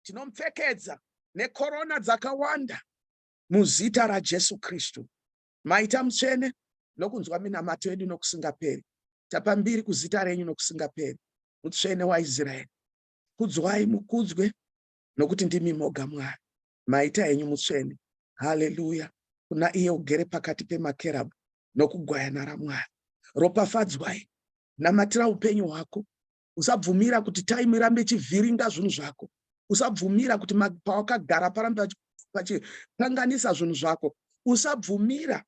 tinomupfekedza nekorona dzakawanda muzita rajesu kristu Maita mutsvene nokunzwa minamato yedu nokusingaperi. Tapa mbiri kuzita renyu nokusingaperi, mutsvene waIsraeri. Kudzwai, mukudzwe, nokuti ndimi moga Mwari. Maita henyu mutsvene. Haleluya! Kuna iye ugere pakati pemakerabhu nokugwayana raMwari. Ropafadzwai, namatira upenyu hwako usabvumira kuti time irambe ichivhiringa zvinhu zvako usabvumira kuti pawakagara parambe pachikanganisa zvinhu zvako usabvumira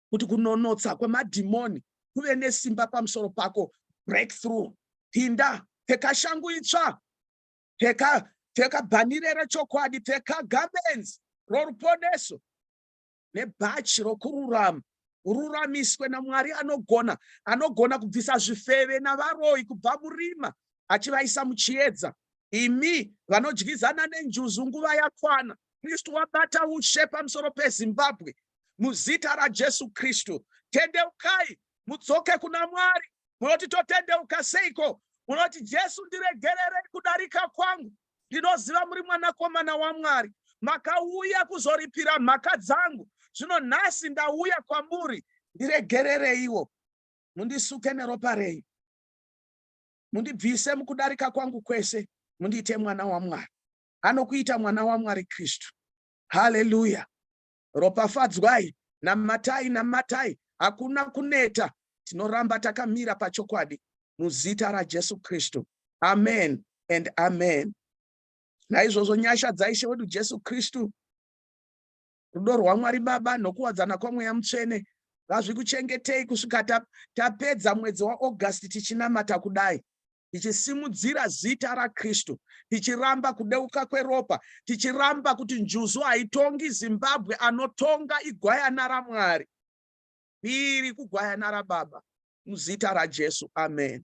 kuti kunonotsa kwemadhimoni kuve nesimba pamusoro pako breakthrough pinda pfeka shangu itsva pfeka pfeka bhanire rechokwadi pfeka garments roruponeso nebhachi rokururama ururamiswe namwari anogona anogona kubvisa zvifeve navaroyi kubva murima achivaisa muchiedza imi vanodyizana nenjuzu nguva yakwana kristu wabata ushe pamusoro pezimbabwe muzita rajesu kristu tendeukai mudzoke kuna mwari munoti totendeuka seiko munoti jesu ndiregererei kudarika kwangu Ndinoziva muri mwanakomana waMwari. Makauya kuzoripira mhaka dzangu. Zvino nhasi ndauya kwamuri. Ndiregerereiwo. Mundisuke neropa renyu. Mundibvise mukudarika kwangu kwese. Mundiite mwana waMwari. Anokuita mwana waMwari Kristu. Haleluya. Ropafadzwai, namatai, namatai, hakuna kuneta, tinoramba takamira pachokwadi muzita raJesu Kristu. Amen and amen. Naizvozvo nyasha dzaIshe wedu Jesu Kristu, rudo rwaMwari Baba nokuwadzana kwaMweya Mutsvene ngazvikuchengetei kusvika tapedza mwedzi waAugust tichinamata kudai. tichisimudzira zita raKristu, tichiramba kudeuka kweropa, tichiramba kuti njuzu haitongi Zimbabwe, anotonga igwayana raMwari. Iri kugwayana raBaba, muzita raJesu, amen.